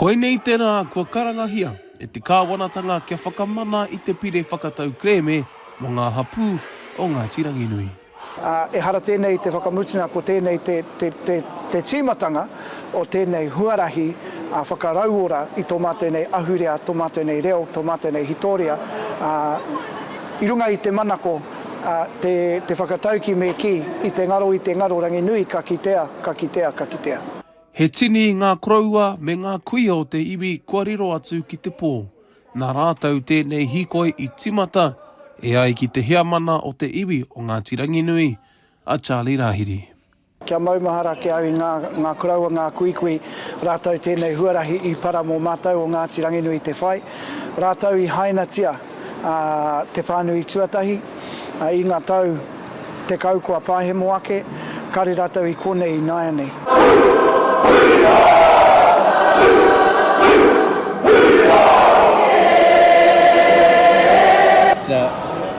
Koinei te rā kua karangahia e te Kāwanatanga kia whakamana i te Pire Whakatau Kerēme mō ngā hapū o Ngāti Ranginui. Ehara tēnei te whakamutunga ko tēnei te tīmatanga o tēnei huarahi whakarauora i tō mātou nei ahurea, tō mātou nei reo, tō mātou nei hitoria i runga i te manako Te whakatauki me kī, i te ngaro, i te ngaro, Ranginui, ka kitea, ka kitea, ka kitea. He tini ngā koroua me ngā kuia o te iwi kua riro atu ki te pō. Nā rātou tēnei hīkoi i tīmata e ai ki te heamana o te iwi o Ngāti Ranginui, a Charlie Rahiri. Kia maumahara ki au i ngā, ngā koroua, ngā kuikui, rātou tēnei huarahi i para mō mātou o Ngāti Ranginui te whai, rātou i hainatia a te pānui tuatahi, i ngā tau tekau kua pāhemo ake, kare rātou i konei i nāianei.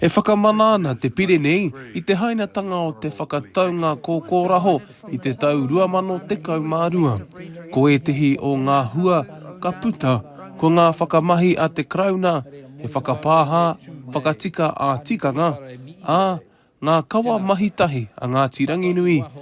E whakamana ana te pire nei i te hainatanga o te whakataunga kōkōraho i te tau 2012. Ko ētehi o ngā hua ka puta, ko ngā whakamahi a te Karauna, he whakapāha, whakatika ā-tikanga, ā, ngā kawa mahitahi a Ngāti Ranginui,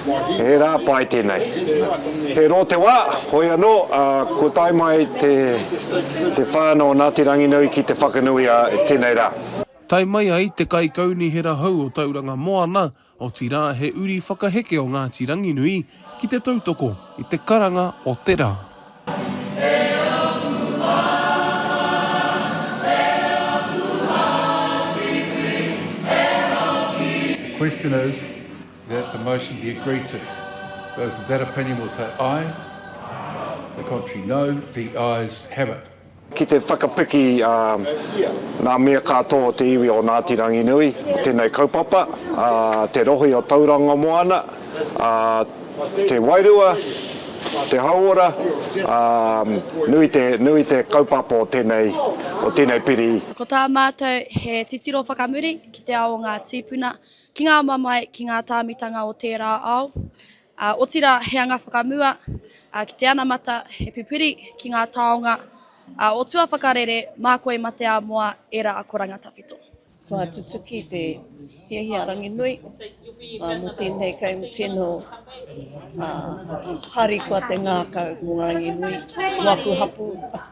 He rā pai tēnei. He rō te wā, hoi anō, ā, kua tae mai te, te whānau o Ngāti Ranginui ki Te Whakanui ā tēnei rā. Tae mai ai te Kaikaunihera hou o Tauranga Moana, otirā he uri whakaheke o Ngāti Ranginui ki te tautoko i te karanga o te rā. Question is. That the motion be agreed to. Those in that opinion will say aye. The contrary no. The ayes have it. Ki te whakapiki ā ngā mea kātoa o te iwi o Ngāti Ranginui i tēnei kaupapa, ā, te rohe o Tauranga Moana, ā, te wairua, te hauora, ā, nui te, nui te kaupapa o tēnei, o tēnei piri. Ko tā mātou he titiro whakamuri ki te ao o ngā tīpuna, Ki ngā mamae, ki ngā tāmitanga o tērā ao, ā, otirā he anga whakamua, ā, ki te anamata he pupuri ki ngā taonga, ā, o tua whakarere mā koe ma te āmoa ērā akoranga tawhito. Kua tutuki te hiahia Ranginui ā, mō tēnei kaimu tino, ā, harikoa te ngākau mō Ranginui, mō aku hapū.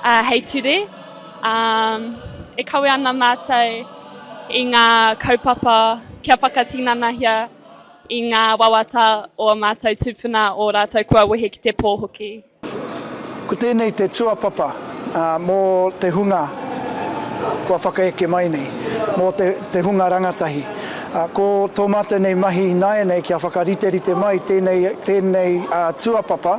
Ā, hei ture, ā, e kawe ana mātou i ngā kaupapa kia whakatinanahia i ngā wawata o ō mātou tūpuna, ō rātou kua wehe ki te pō hoki. Ko tēnei te tuapapa mō te hunga kua whakaeke mai nei, mō te hunga rangatahi. Ko tō mātou nei mahi ināianei kia whakariterite mai tēnei tuapapa.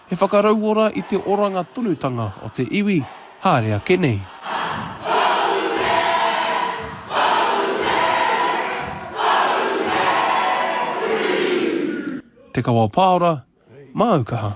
He whakarauora i te oranga tonutanga o te iwi haere ake nei. Te Kawa Paora, Māu Kaha.